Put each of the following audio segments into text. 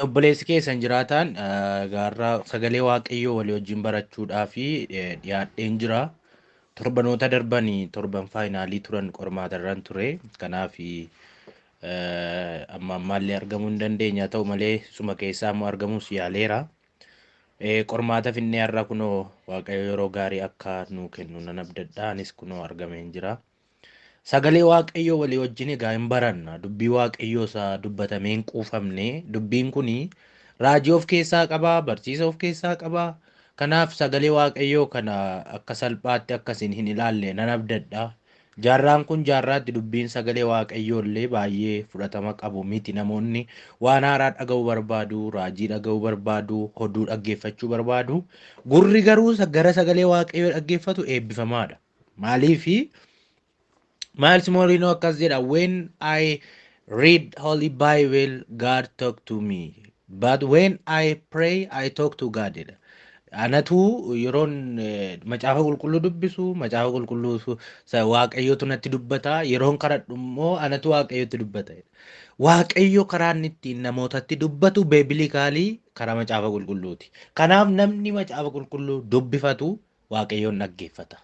Obboleessi keessan jiraataan gaarraa sagalee waaqayyoo walii wajjin barachuudhaa fi dhiyaadheen jira. Torbanoota darban torban faayinaalii turan qormaatarran ture. Kanaaf amma ammaallee argamuu hin dandeenye haa ta'u malee suma keessaa immoo argamuus yaaleera. Qormaata finnee har'a kunoo waaqayyo yeroo gaarii akka nuu kennu nan abdadha. Anis kunoo argameen jira. Sagalee Waaqayyoo walii wajjin egaa hin baranna. Dubbii Waaqayyoo isa dubbatamee hin quufamne. Dubbiin kun raajii of keessaa qaba, barsiisa of keessaa qaba. Kanaaf sagalee Waaqayyoo kana akka salphaatti akka isin hin ilaalle nan abdadha. Jaarraan kun jaarraatti dubbiin sagalee Waaqayyoo illee baay'ee fudhatama qabu miti. Namoonni waan haaraa dhaga'uu barbaadu, raajii dhaga'uu barbaadu, hoduu dhaggeeffachuu barbaadu. Gurri garuu gara sagalee Waaqayyoo dhaggeeffatu eebbifamaadha. Maaliifi Miles Morino akkas jedha when I read holy bible God talk to me but when I pray I talk to God jedha. Anatu yeroon eh, macaafa qulqulluu dubbisu macaafa qulqulluu su- sa- waaqayyotu natti dubbata yeroon kadhadhu immoo anatu waaqayyotti dubbata. jedha. Waaqayyo karaa inni ittiin namootatti dubbatu beebilikaalii karaa macaafa qulqulluuti. Kanaaf namni macaafa qulqulluu dubbifatu Waaqayyoon dhaggeeffata.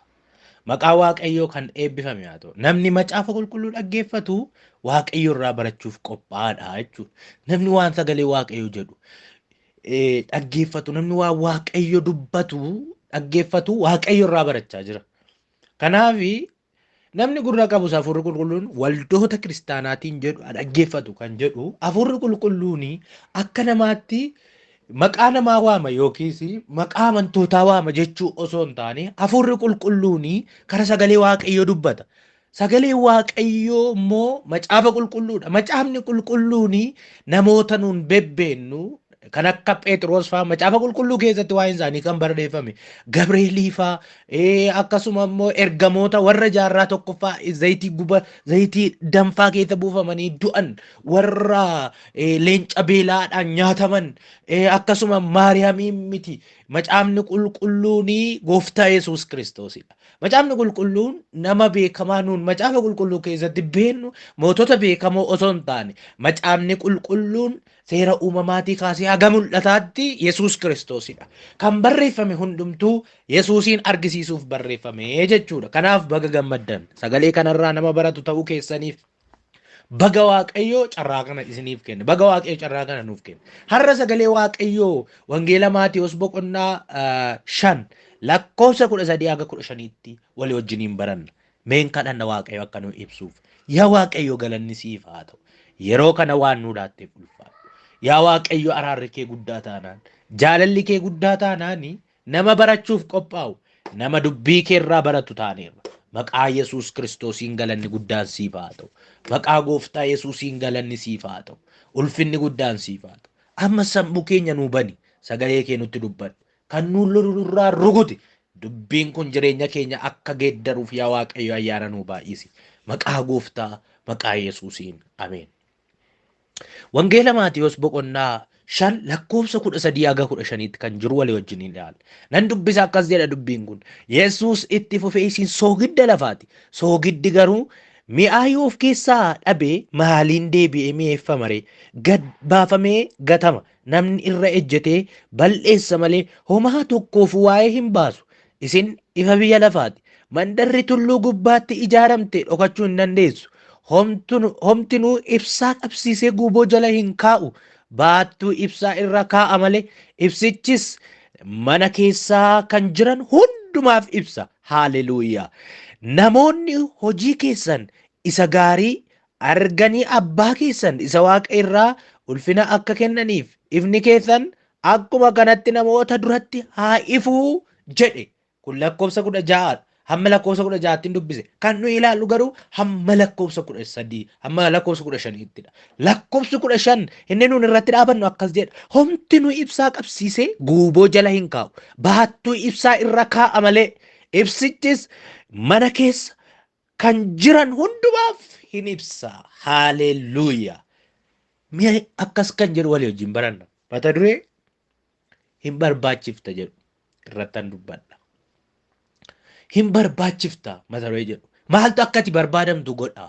Maqaa Waaqayyoo kan eebbifame haa ta'u. Namni macaafa qulqulluu dhaggeeffatu Waaqayyo irraa barachuuf qophaa'aadha jechuudha. Namni waan sagalee Waaqayyoo jedhu eh, dhaggeeffatu, namni waan Waaqayyo dubbatu dhaggeeffatu Waaqayyo irraa barachaa jira. Kanaaf Namni gurra qabus Hafuurri Qulqulluun waldoota kiristaanaatiin jedhu haa dhaggeeffatu kan jedhu Hafuurri Qulqulluun akka namaatti maqaa namaa waama yookiis maqaa amantootaa waama jechuu osoo hin taane Hafuurri Qulqulluun karaa sagalee Waaqayyoo dubbata. Sagalee Waaqayyoo immoo macaafa qulqulluudha. Macaafni qulqulluun namoota nuun bebbeennu kan akka Phexros faa macaafa qulqulluu keessatti waa'een isaanii kan barreeffame Gabreelii faa ee, akkasuma immoo ergamoota warra jaarraa tokkoffaa zayitii guba zayitii danfaa keessa buufamanii du'an warra ee, leenca beelaadhaan nyaataman ee, akkasuma Maariyaamii miti macaafni qulqulluun gooftaa Yesuus Kiristoosidha. Macaafni qulqulluun nama beekamaa nuun macaafa qulqulluu keessatti beennu mootota beekamoo osoo hin taane macaafni qulqulluun Seera uumamaatii kaasee haga mul'ataatti Yesuus Kiristoosidha. Kan barreeffame hundumtuu Yesuusiin argisiisuuf barreeffame jechuudha. Kanaaf baga gammaddan. Sagalee kanarraa nama baratu ta'uu keessaniif baga Waaqayyoo carraa kana isiniif kenne. Baga Waaqayyo carraa kana nuuf kenne. Har'a sagalee Waaqayyoo Wangeela Maatiyos boqonnaa ah, shan lakkoofsa kudha sadii haga kudha shaniitti walii wajjiniin baranna. Mee hin kadhanna Waaqayyo akka nu ibsuuf. Yaa Waaqayyo galanni siif haa ta'u. Yeroo kana waan nu laatteef ulfaadhu. Yaa Waaqayyo araarri kee guddaa taanaan, jaalalli kee guddaa taanaan nama barachuuf qophaa'u, nama dubbii kee irraa baratu taaneerra. Maqaa Yesuus Kiristoosiin galanni guddaan siif haa ta'u. Maqaa Gooftaa Yesuusiin galanni siif haa ta'u. Ulfinni guddaan siif haa ta'u. Amma sammuu keenya nuu bani. Sagalee kee nutti dubbadhu. Kan nuun lolu nurraa rukuti. Dubbiin kun jireenya keenya akka geeddaruuf yaa Waaqayyo ayyaana nuu baay'isi. Maqaa gooftaa maqaa Yesuusiin. Ameen. Wangeela Maatiyos boqonnaa shan lakkoofsa kudha sadii haga kudha shaniitti kan jiru walii wajjin hin ilaalla. Nan dubbisa akkas jedha dubbiin kun. Yesuus itti fufee isin soogidda lafaati. Soogiddi garuu mi'aa yoo of keessaa dhabe maaliin deebi'ee mi'eeffama ree? Gad baafamee gatama. Namni irra ejjetee bal'eessa malee homaa tokkoof waa'ee hin baasu. Isin ifa biyya lafaati. Mandarri tulluu gubbaatti ijaaramte dhokachuu hin dandeessu. Homtinuu ibsaa qabsiisee guuboo jala hin kaa'u. Baattuu ibsaa irra kaa'a malee. Ibsichis mana keessaa kan jiran hundumaaf ibsa. Haaleluuyaa! Namoonni hojii keessan isa gaarii arganii abbaa keessan isa waaqa irraa ulfina akka kennaniif ifni keessan akkuma kanatti namoota duratti haa ifuu jedhe kun lakkoofsa kudha ja'a hamma lakkoofsa kudha ja'aattiin dubbise kan nuyi ilaallu garuu hamma lakkoofsa kudha sadii hamma lakkoofsa kudha shaniittidha lakkoofsi kudha shan inni nuun irratti dhaabannu akkas jedha homti nu ibsaa qabsiisee guuboo jala hin kaa'u baattuu ibsaa irra kaa'a malee ibsichis mana keessa kan jiran hundumaaf hin ibsa. Haaleelluuyaa! Mi'a akkas kan jedhu walii wajjin baranna. Mata duree hin barbaachifta jedhu irrattan dubbadha. Hin barbaachifta mata duree jedhu. Maaltu akka ati barbaadamtu godha?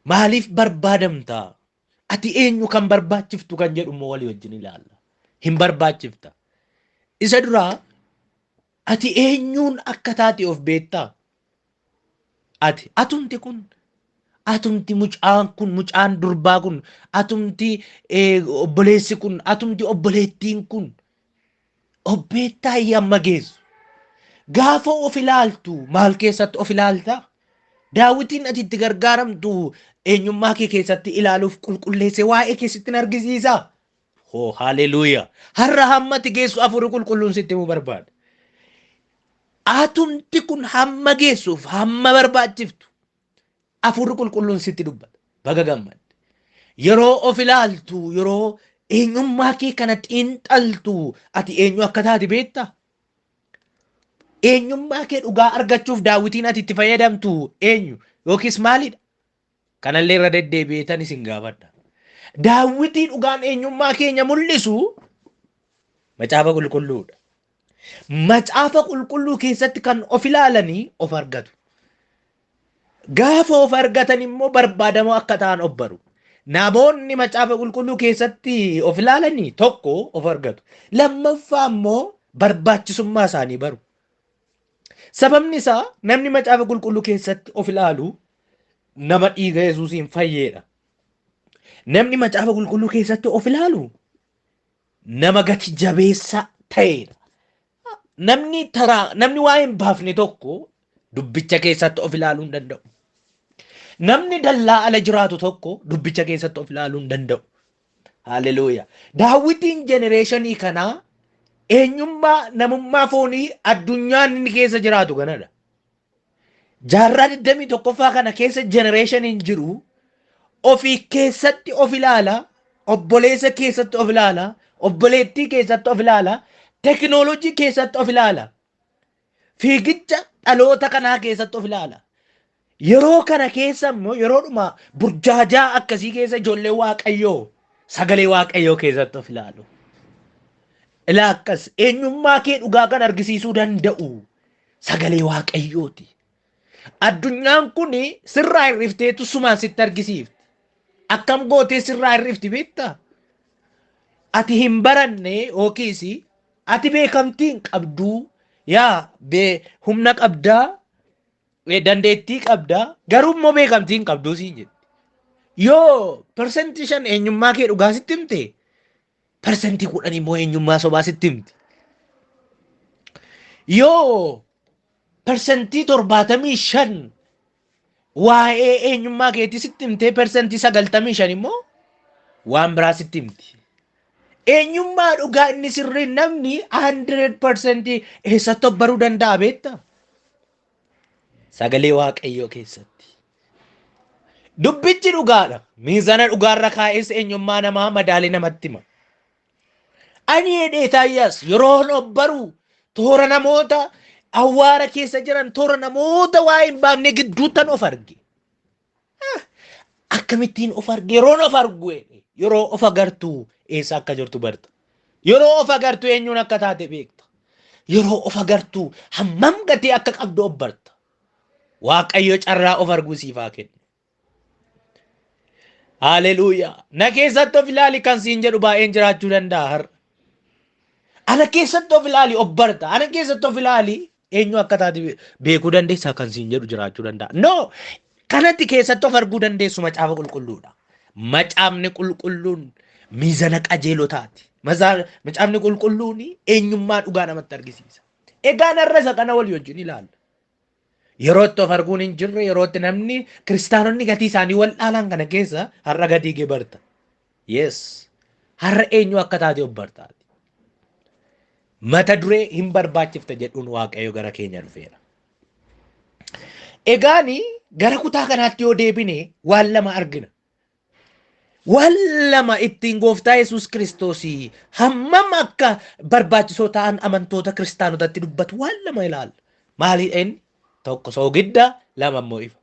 Maaliif barbaadamta? Ati eenyu kan barbaachiftu kan jedhu immoo walii wajjin ilaalla. Hin barbaachifta. Isa duraa ati eenyuun akka taate of beektaa? ati atumti kun atumti mucaan kun mucaan durbaa kun atumti eh, obboleessi kun atumti obboleettiin kun obbeettaa yamma geessu gaafa of ilaaltu maal keessatti of ilaalta daawwitiin ati itti gargaaramtu eenyummaa kee keessatti ilaaluuf qulqulleesse waa'ee keessatti hin argisiisa Hoo haleluuyaa. Har'a hammati geessu hafuurri qulqulluun sitti himuu barbaada. Atumti kun hamma geessuuf hamma barbaachiftu hafuurri qulqulluun sitti dubbata. Baga gammadde. Yeroo of ilaaltu yeroo eenyummaa kee kana xiinxaltu ati eenyu akka taate beektaa? Eenyummaa kee dhugaa argachuuf daawwitiin ati itti fayyadamtu eenyu yookiis maalidha? Kanallee irra deddeebi'eetan isin gaafadha. Daawwitii dhugaan eenyummaa keenya mul'isu macaafa qulqulluudha. Macaafa qulqulluu keessatti kan of ilaalanii of argatu. Gaafa of argatan immoo barbaadamoo akka ta'an of baru. Namoonni macaafa qulqulluu keessatti of ilaalanii tokko of argatu. Lammaffaa immoo barbaachisummaa isaanii baru. Sababni isaa namni macaafa qulqulluu keessatti of ilaalu nama dhiiga Yesuusiin fayyeedha. Namni macaafa qulqulluu keessatti of ilaalu nama gati jabeessa ta'eedha. Namni taraa namni waa hin baafne tokko dubbicha keessatti of ilaaluu hin danda'u. Namni dallaa ala jiraatu tokko dubbicha keessatti of ilaaluu hin danda'u. Haalleluuyaa. Daawwitiin jenereeshinii kanaa eenyummaa namummaa foonii addunyaan inni keessa jiraatu kanadha. Jaarraa 21ffaa kana keessa jenereeshiniin jiru ofii keessatti of ilaala, obboleessa keessatti of ilaala, obboleettii keessatti of ilaala, tekinooloojii keessatti of ilaala. Fiigicha dhaloota kanaa keessatti of ilaala. Yeroo kana keessa immoo yeroodhuma burjaajaa akkasii keessa ijoollee waaqayyoo sagalee waaqayyoo keessatti of ilaalu. Ilaa akkas eenyummaa kee dhugaa kan argisiisuu danda'u sagalee waaqayyooti. Addunyaan kun sirraa hir'ifteetu sumaan sitti argisiifti. Akkam gootee sirraa hir'ifti beektaa? Ati hin baranne yookiis Ati beekamtii hin qabduu yaa bee humna qabdaa eh, dandeettii qabdaa garuu immoo beekamtii hin qabduu siin jedhe. Yoo persentii shan eenyummaa kee dhugaa sitti himte persentii kudhan immoo eenyummaa sobaa sitti himti. Yoo persentii torbaatamii shan Waa'ee eenyummaa keetii sitti himtee persentii sagaltamii shan immoo waan biraa sitti himti. Eenyummaa dhugaa inni sirrii namni 100 persentii eessatti of baruu danda'a beekta? Sagalee Waaqayyoo keessatti. Dubbichi dhugaadha. Miizana dhugaarra kaa'ees eenyummaa namaa madaalee namatti hima. Ani jedhe Isaayyaas yeroon obbaru toora namoota awwaara keessa jiran toora namoota waa hin baafne gidduuttan of arge. Ah, Akkamittiin of arge yeroon of argu jedhe yeroo of agartu eessa akka jirtu barta. Yeroo of agartu eenyuun akka taate beekta. Yeroo of agartu hammam gatii akka qabdu obbarta. Waaqayyo carraa of arguu siif haa kennu. Haleluuyaa. Na keessatti of ilaali kan siin jedhu baay'een jiraachuu danda'a har'a. Ana keessatti of ilaali of barta. Ana keessatti of ilaali eenyu akka taate beekuu dandeessaa kan siin jedhu jiraachuu danda'a. No! Kanatti keessatti of arguu dandeessu macaafa qulqulluudha. Macaafni qulqulluun miizana qajeelotaati. Mazaa- Macaafni qulqulluun eenyummaa dhugaa namatti argisiisa. Egaan har'a isa kana walii wajjin ilaalla. Yerootti of arguun hin jirre yerootti namni kiristaanonni gatii isaanii wal'aalaan kana keessa har'a gatii kee barta. Yes. Har'a eenyu akka taate of bartaati. Mata duree hin barbaachifta jedhuun waaqayyo gara keenya dhufeera. Egaani gara kutaa kanaatti yoo deebine waan lama argina. Waan lama ittiin gooftaa Yesuus Kiristoos hammam akka barbaachisoo ta'an amantoota kiristaanotatti dubbatu waan lama ilaalla. Maali inni? Tokko soogidda, lama immoo ifa.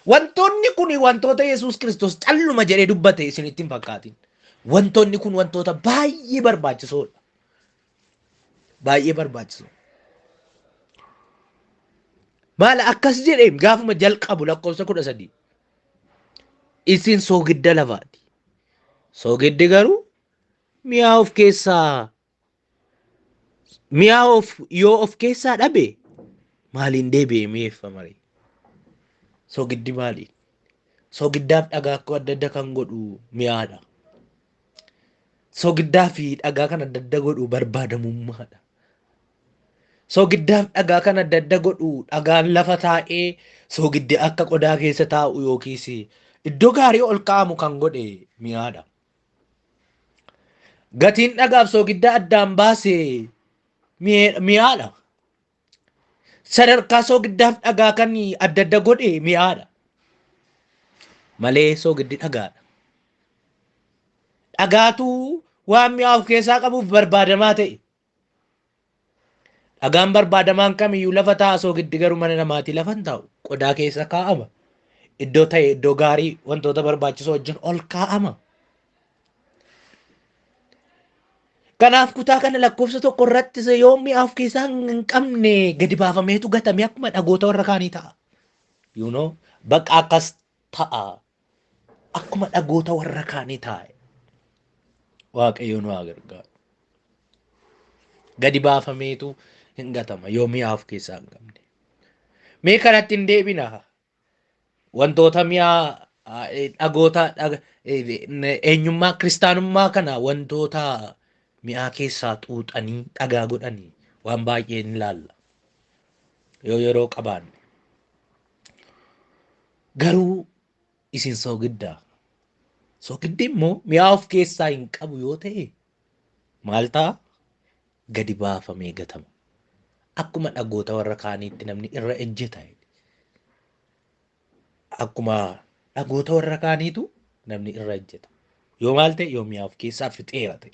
Wantoonni kun wantoota Yesuus Kiristoos calluma jedhee dubbate isinitti hin fakkaatin. Wantoonni kun wantoota baay'ee barbaachisoodha. Baay'ee barbaachisoo. Maala akkas jedheen gaafuma jalqabu lakkoofsa kudha sadii. Isin soogidda lafaati. Soogiddi garuu mi'aa of keessaa mi'aa of yoo of keessaa dhabe maaliin deebi'ee mi'eeffama ree? Soogiddi maali? Soogiddaaf dhagaa akka adda adda kan godhu mi'aadha. Soogiddaa fi dhagaa kan adda adda godhu barbaadamummaadha. Soogiddaaf dhagaa kan adda adda godhu dhagaan lafa taa'ee soogiddi akka qodaa keessa taa'u yookiis iddoo gaarii ol kaa'amu kan godhe mi'aadha. Gatiin dhagaaf soogidda addaan baase mi'ee- mi'aadha. Sadarkaa soogiddaaf dhagaa kan adda adda godhe mi'aadha. Malee soogiddi dhagaadha. Dhagaatu waan mi'aa of keessaa qabuuf barbaadamaa ta'e. Dhagaan barbaadamaan kamiyyuu lafa taa'a soogiddi garuu mana namaatii lafa hin taa'u. Qodaa keessa kaa'ama. Iddoo ta'e iddoo gaarii wantoota barbaachisoo wajjin ol kaa'ama. Kanaaf kutaa kana lakkoofsa tokko irratti yoo mi'a of keessaa hin qabne gadi baafameetu gatamee akkuma dhagoota warra kaanii ta'a. You know, bakka akkas ta'a akkuma dhagoota warra kaanii taa'e waaqayyo nu haa gargaaru. Gadi baafameetu hin gatama yoo mi'aa of keessaa hin qabne. Mee kanatti hin deebina. Wantoota mi'aa ah, eh, dhagoota dhaga- eh, eh, eenyummaa kiristaanummaa kana wantoota mi'aa keessaa xuuxanii dhagaa godhanii waan baay'ee ni ilaalla. Yoo yeroo qabaanne. Garuu isin soogidda. Soogiddi immoo mi'aa of keessaa hin qabu yoo ta'e maal ta'a? Gadi baafamee gatama. Akkuma dhagoota warra kaaniitti namni irra ejjeta. Akkuma dhagoota warra kaaniitu namni irra ejjeta. Yoo maal ta'e yoo mi'aa of keessaa fixeera ta'e.